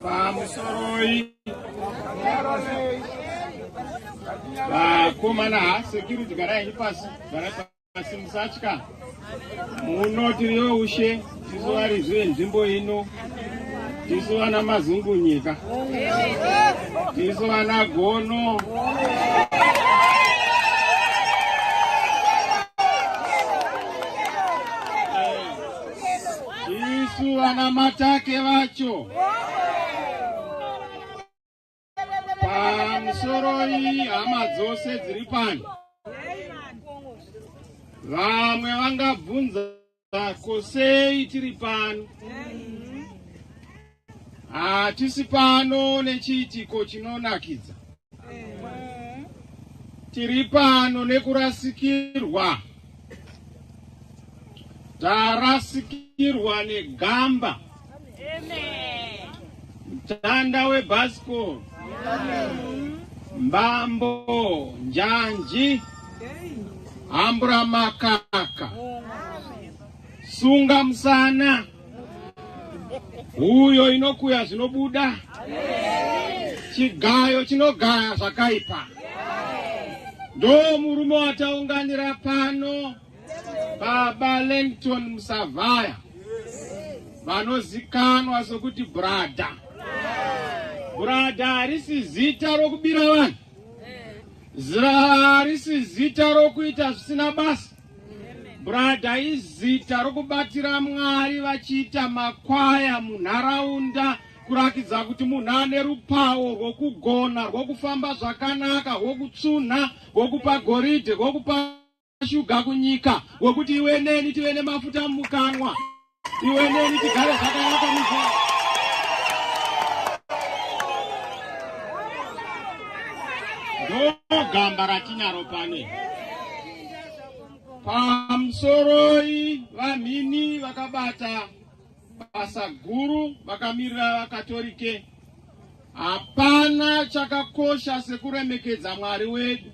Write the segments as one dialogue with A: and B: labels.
A: pamusoroi vakomana ha security garai pasi garai pasi musatya muno tiriyo ushe tisu varidzi venzvimbo ino tisu vana mazungunyika tisu vana gono isu vana matake vacho pamusoro iyi hama dzose dziri pano vamwe vangabvunza ko sei tiri pano Hatisi pano nechiitiko chinonakidza. Tiri pano nekurasikirwa. Tarasikirwa negamba. Mtanda webhasikoro. Mbambo njanji. Hambura makaka. Sunga musana. huyo inokuya zvinobuda chigayo chinogaya zvakaipa ndo murume wataunganira pano baba lengton musavhaya vanozikanwa sokuti brada brada harisi zita rokubira vanhu zira harisi zita rokuita zvisina basa Brada izita rokubatira Mwari vachiita makwaya munharaunda kurakidza kuti munhu ane rupawo rwokugona rwokufamba zvakanaka rwokutsunha rwokupa goridhe rwokupa shuga kunyika rwokuti iwe neni tive nemafuta mumukanwa iwe neni tigare zvakanaka muzva ndogamba ratinaro pane pamusoroi vamhini vakabata basa guru vakamirira vakatorike hapana chakakosha sekuremekedza mwari wedu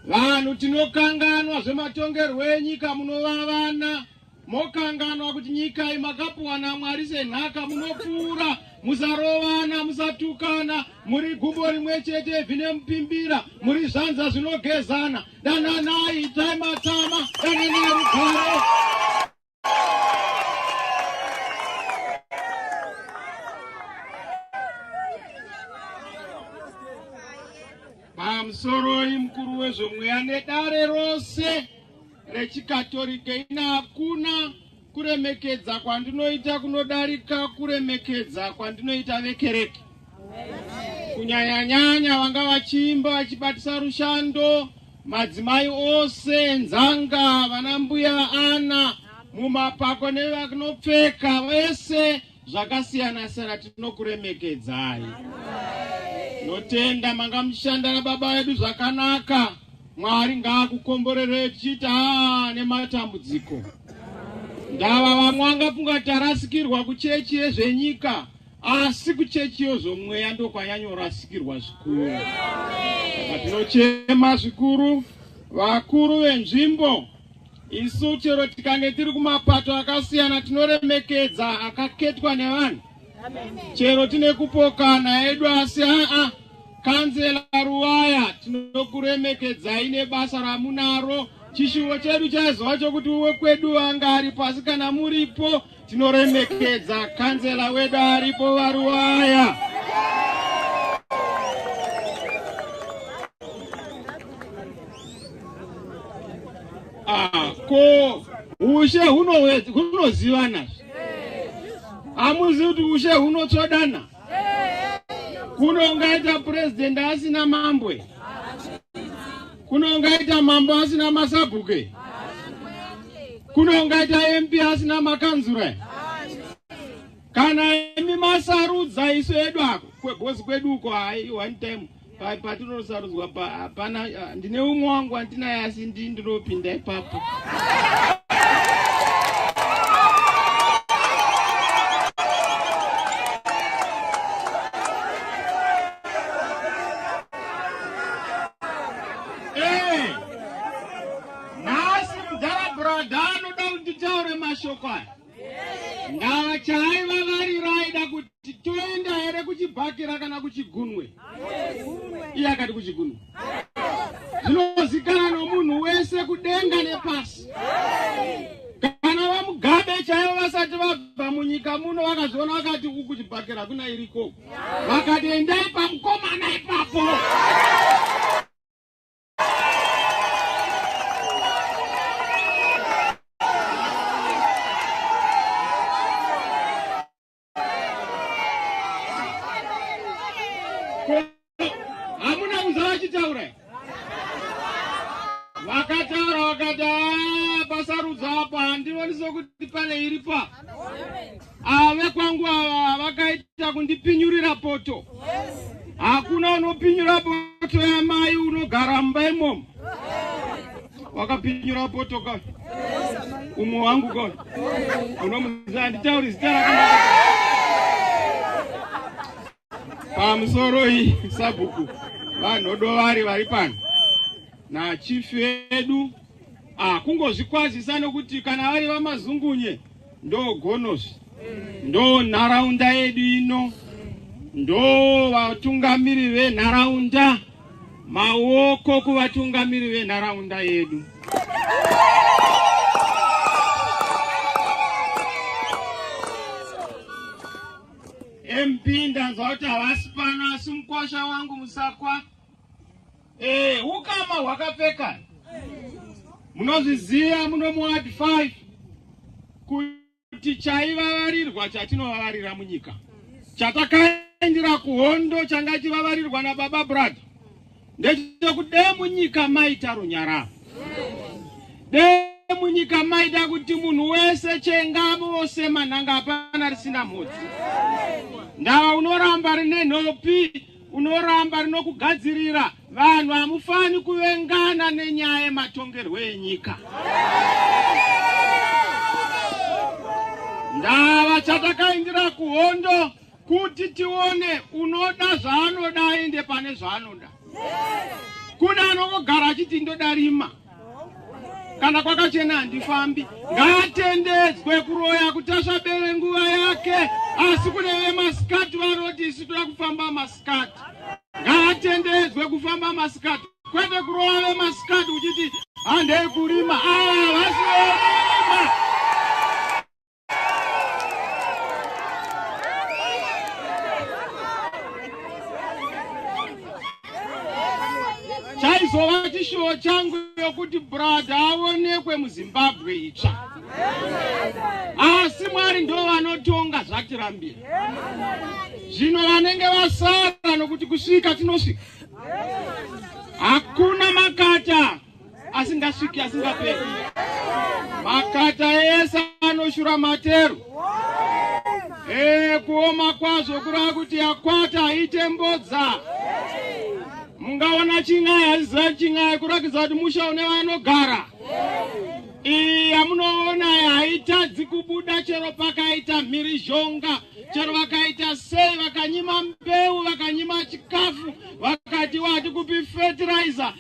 A: vanhu tinokanganwa zvematongerwo enyika munovavana Mokanganwa kuti nyika iyi makapuwa naMwari senhaka, munopfuura, musarovana, musatukana, muri gumbo rimwe chete, ivhi nemupimbira, muri zvanza zvinogezana. Dananai, itai matama, dananai rugare. Pamusoroi mukuru wezvomweya nedare rose rechikatorike ina hakuna kuremekedza kwandinoita kunodarika kuremekedza kwandinoita vekereke kunyanyanyanya vanga vachiimba vachibatisa rushando madzimai ose nzanga vana mbuya ana mumapako nevakunopfeka vese Zvakasiyana siyana tinokuremekedzai. Notenda manga muchishanda nababa vedu zvakanaka. Mwari ngaakukomborerei tichiita ah, nematambudziko. Ndava vamwe angafunga tarasikirwa kuchechi yezvenyika asi kuchechi yezvomweya ndokwanyanyorasikirwa zvikuru. Tinochema zvikuru vakuru venzvimbo Isu chero tikange tiri kumapato akasiyana tinoremekedza akaketwa nevanhu chero tine kupokana edu asi aa kanzela ruwaya tinokuremekedzai nebasa ramunaro chishuvo chedu chaizova chokuti wekwedu anga ari pasi kana muripo Tinoremekedza kanzela wedu aripo varuwaya. Ah, ko ushe hunozivana hamuzi kuti ushe hunotsvodana kuno ungaita purezidhendi asina mambwe Kuno ungaita mambo asina masabhuku here? Kuno ungaita MP asina makanzura here? Kana imi masarudza isu edu ako kwebosi kwedu uko hai one time pa- patinosarudzwa pa- hapana ah, ndine umwe wangu andinaye asi ndi ndinopinda ipapo. Eh, nhasi mudhara brada anoda kunditaure mashoko aya ndava chaiva varira aida kuti toenda here kuchibhakira kana kuchigunwe iye akati kuchigunwe zvinozikana nomunhu wese kudenga nepasi kana vamugabe chaivo vasati vabva munyika muno vakazviona vakati uku kuchibhakira kuna irikoko vakati endai pamukomana ipapo hamuna kuza vachitaura vakataura vakati ah, pasarudzo apa handioni sokuti pane iripa ave ah, kwangu ava vakaita kundipinyurira poto hakuna unopinyura poto yamai unogara mumba imomo wakapinyura poto ka umwe wangu ka unomuziva handitauri zita rakanaa pamusoro iyi sabhuku vanhodovari vari pano nachief vedu ah, kungozvikwazisa nokuti kana vari vamazungunye ndo gonosi ndo nharaunda yedu ino ndo vatungamiri venharaunda maoko kuvatungamiri venharaunda yedu MP ndanzwa kuti havasi pano asi mukwasha wangu musakwa e, ukama hwakapfeka munozviziva muno muward 5 kuti chaivavarirwa chatinovavaririra munyika chatakaendera kuhondo changa chivavarirwa nababa brother ndechekuti dee munyika maita runyararo dee munyika maida kuti munhu wese chengamo wose manhanga hapana risina mhodzi ndava unoramba rine nhopi unoramba rinokugadzirira vanhu hamufani kuvengana nenyaya yematongerwo enyika ndava chatakaindira kuhondo Kuti tione unoda zvaanoda aende pane zvaanoda. Kune anongogara achiti ndoda rima kana kwakachena handifambi. Ngaatendedzwe kuroya kuti asvabere nguva yake, asi kune vemasikati vanoti isu toda kufamba masikati. Ngaatendedzwe kufamba masikati, kwete kuroya vemasikati uchiti handei kurima. Ava ah, vasi chaizova chishuwo changu yokuti brada aonekwe muzimbabwe itsva asi mwari ndo vanotonga zvatirambira zvino vanenge vasara nokuti kusvika tinosvika hakuna makata asingasviki asingaperi makata ese anoshura matero ee kuoma kwazvo kurava kuti yakwata haite mbodza mungaona chin'ai hazizira chin'ai kurakidza kuti musha une vanogara iyi yamunoona haitadzi kubuda chero pakaita mhirizhonga chero vakaita sei vakanyima mbeu vakanyima chikafu vakati wati kupi fertilizer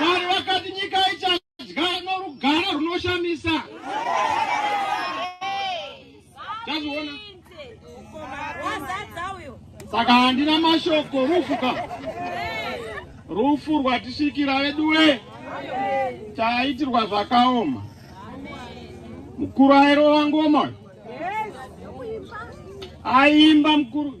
A: Mwari vakati nyika ichadya norugare runoshamisa. Tazviona. Saka handina mashoko rufu ka. Rufu rwatisvikira veduwe. Taitirwa zvakaoma. Mukuru airova ngoma. Aimba mukuru.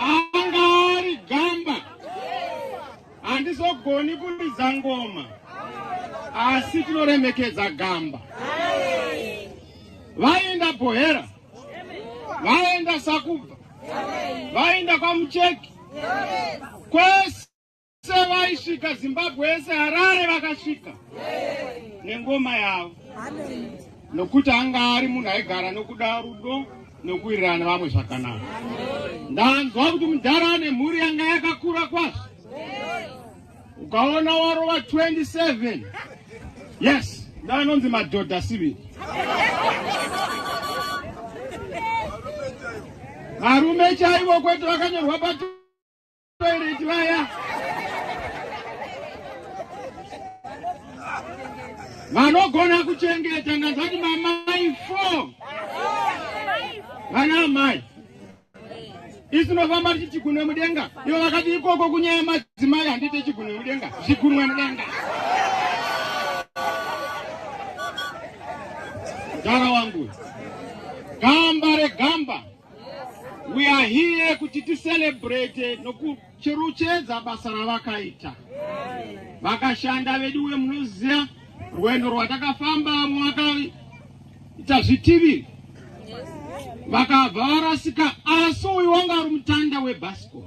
A: anga ari gamba handizogoni kuridza ngoma asi tinoremekedza gamba vaenda bohera vaenda sakubva vaenda kwamucheki kwese Vese vaisvika Zimbabwe yese Harare vakasvika nengoma yavo nokuti anga ari munhu aigara nokuda rudo nokuwirirana vamwe zvakanaka. Ndanzwa kuti mudhara ane mhuri yanga yakakura kwazvo. Ukaona warova 27 yes ndanonzi madhodha siviri varume chaivo kwete vakanyorwa pati vanogona kuchengeta ndanzvati mamai four vana amai isu nofamba tichi chigunwe mudenga ivo vakati ikoko kunyaya madzimai handiite chigunwe mudenga zvigunwe mudenga mudhara wangu gamba regamba We are here kuti ticelebrate nokucheruchedza basa ravakaita vakashanda vedu we munoziva rwendo rwatakafamba vamwe vakaita zvitivi vakabva varasika asi uyu wanga ari mutanda webasco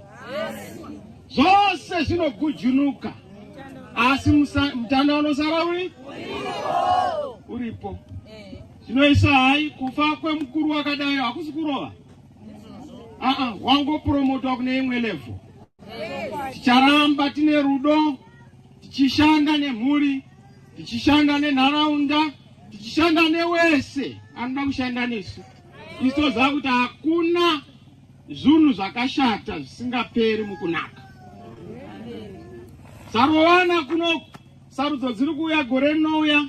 A: zvose zvinogujunuka asi mutanda unosara uri uripo Zvinoisa hai kufa kwemukuru wakadai hakusi kurova. Aa, wangopromotwa kune imwe level. Ticharamba tine rudo, tichishanda nemhuri, tichishanda nenharaunda, tichishanda newese anoda kushanda nesu. Isu toziva kuti hakuna zvinhu zvakashata zvisingaperi mukunaka. Sarovana kuno sarudzo dziri kuuya gore rinouya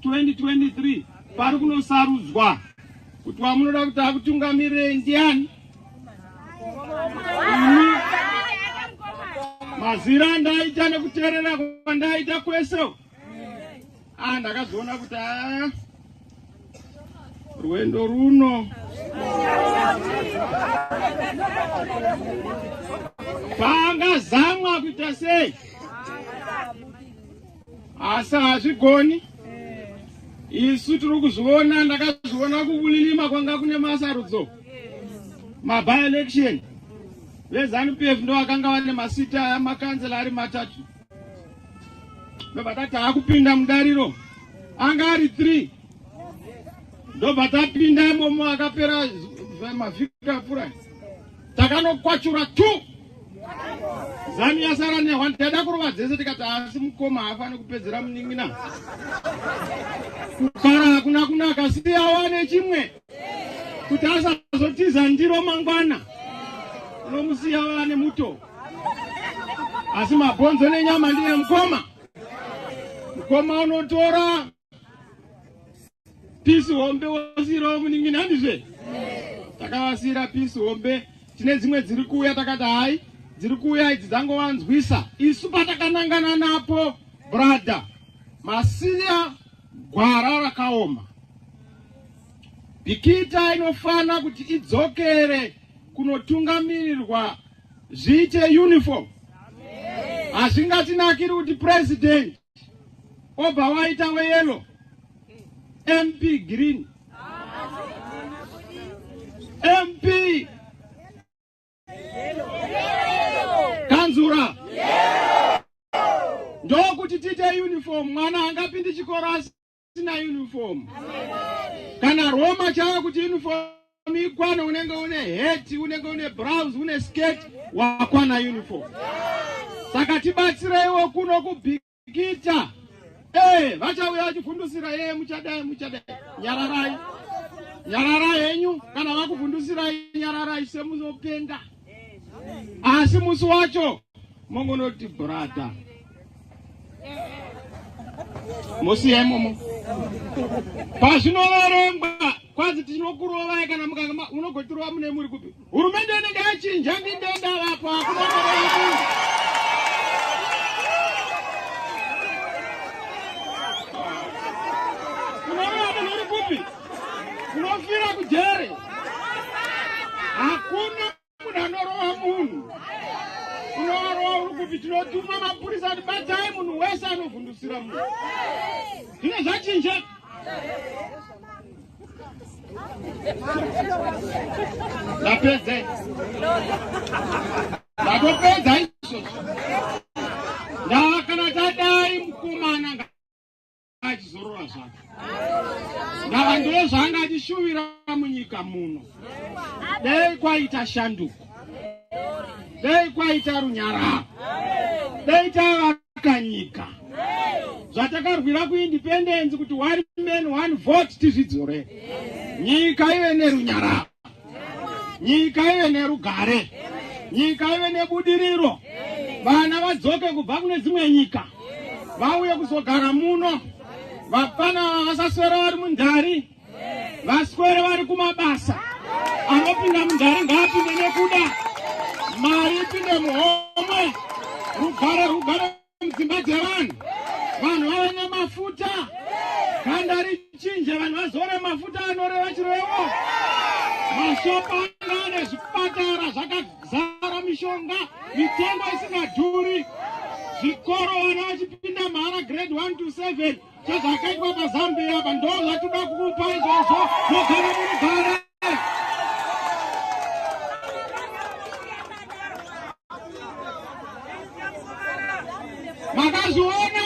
A: 2023 pari kunosarudzwa kuti wamunoda kuti akutungamirire ndiani ini mazira andaita nekuteerera kwandaita kwese a ndakazoona kuti a rwendo runo pangazamwa kuita sei asi hazvigoni isu tiri kuzviona ndakazviona kubulilima kwanga kune masarudzo maby election vezanupf ndo vakanga vane masita amakanzela ari matatu ndobva tati akupinda mudariro anga ari three ndobva tapinda imomo akapera mavhiki apfurai takanokwachura two Zanu yasara nehwa ndada kurova dzese tikati asi mukoma haafani kupedzera munin'ina. Kufara hakuna kunaka siti awane chimwe kuti asazotiza ndiro mangwana unomusiya wane muto asi mabhonzo nenyama ndiye mukoma mukoma unotora pisi hombe wosiirawo munin'inani zve takavasiira pisi hombe tine dzimwe dziri kuuya takati hai dziri kuuya idzi dzangovanzwisa isu patakanangana napo brother masiya gwara rakaoma bikita inofana kuti idzokere kunotungamirirwa zviite uniform hazvingatinakiri kuti president obva waita weyelo mp green mp kanzura ndokuti tiite uniform mwana angapindi chikoro asi asina uniform kana roma chava kuti uniform ikwane unenge une hat unenge une browse une skirt wakwana uniform saka tibatsireiwo kuno kubhikita ee vachauya vachivhundusira yeye muchadai muchadai nyararai nyararai henyu kana vakuvhundusirai nyararai semunopenga asi musi wacho mongonoti brother mosiya imomo pazvinoverengwa kwanzi tinokurovai kana mukanga unogotirova mune muri kupi hurumende inenge yachinja ndindenda vapo Unofira kujere. Hakuna munhu anorova munhu. Unorova uri kuti tinotuma mapurisa kuti batai munhu wese anovhundusira munhu. Zvine zvachinja. Ndapedze. Ndatopedza izvozvo. Ndakana tadai mukomana achizorora zvake ndava ndo zvaanga achishuvira munyika muno dei kwaita shanduko dei kwaita runyararo dei tavaka nyika zvatakarwira kuindependensi kuti one man one vote tizvidzore nyika ive nerunyararo nyika ive nerugare nyika ive nebudiriro vana vadzoke kubva kune dzimwe nyika vauye kuzogara muno vapfana vasaswera vari mundhari vaswere vari kumabasa anopinda mundhari ngaapinde nekuda mari ipinde muhomwe rugare rugare dzimba dzevanhu vanhu vave nemafuta ganda richinja vanhu vazore mafuta anoreva chirevo mashopa anga ane zvipatara zvakazara mishonga mitengo isingadhuri zvikoro vana vachipinda mahara grade 1 to 7 chezvakaitwa pazambia apa ndo zvatoda kukupa izvozvo mogara munogara makazviona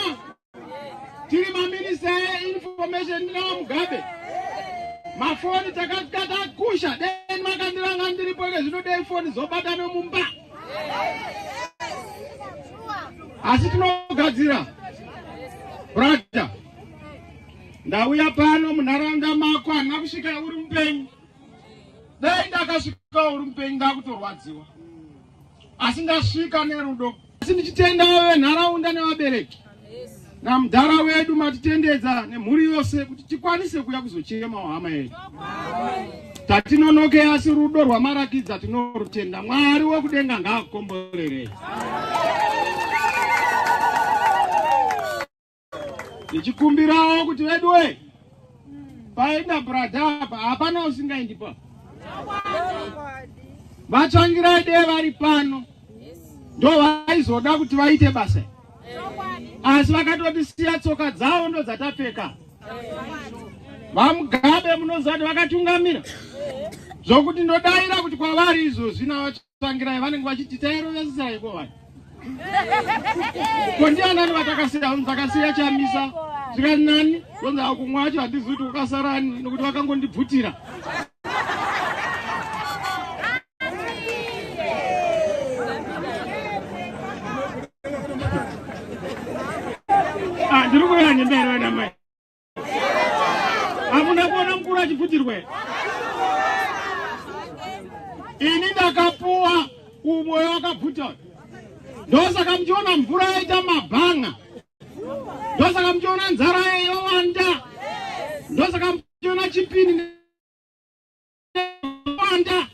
A: tiri maminista einformation ndinawa mugabe mafoni takasvika takusha deni makandiranga ndiripo ke zvino dei foni zobata nomumba asi tinogadzira brother Ndauya pano munharaunda mako handina kusvika uri mupenyu. Dai ndakasvika uri mupenyu ndakutorwadziwa. Asi ndasvika nerudo. Asi ndichitenda wewe nharaunda nevabereki. Na mdhara wedu matitendedza nemhuri yose kuti tikwanise kuya kuzochema hama yedu. Tatinonoke asi rudo rwamarakidza tinorutenda. Mwari wekudenga ngaakukomborerei. ndichikumbirawo kuti veduwe paenda brada apa hapana usingaendi pa vatsvangirai dee vari pano ndo vaizoda kuti vaite basa asi vakatotisiya tsoka dzavo ndo dzatapfeka vamugabe munoziva kuti vakatungamira zvokuti ndodaira kuti kwavari izvozvi navatsva Tsvangirai vanenge vachiti tairovesesai ko vanhu ko ndianani vatakasiya vanhu takasiya chamisa zvikati nani vonzi akumwe acho handizi kuti ukasarani nokuti vakangondibvutira ah, ndiri kuuya nemberi vanamai hamuna kuona mukuru achibvutirwa ini ndakapuwa umoyo wakabvuta ndosaka muchiona mvura yaita mabhanga ndosaka muchiona nzara yowanda ndosaka muchiona chipini wanda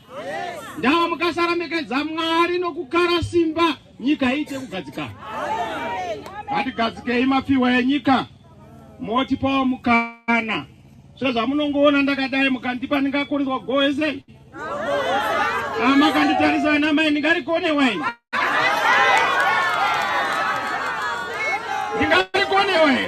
A: ndava mukasarambekedza mwari nokukara simba nyika iite kugadzikana ngatigadzikei mafiwa enyika motipawo mukana sezvamunongoona ndakadai mukandipa ndingakuriswa goese amakanditarisa ana mai ndingarikone waini ndingarikone waini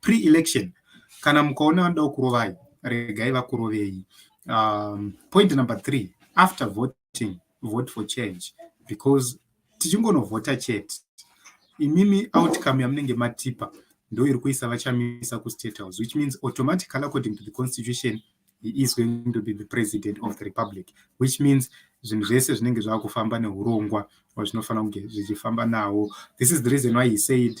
B: pre-election kana mukaona vanoda kukurovai regai vakurovei um, point number three after voting vote for change because tichingonovhota chete imimi outcome yamunenge matipa ndo iri kuisa vachamisa kustate house which means automatically according to the constitution he is going to be the president of the republic which means zvinhu zvese zvinenge zvava kufamba neurongwa zvinofanira kunge zvichifamba nawo this is the reason why he said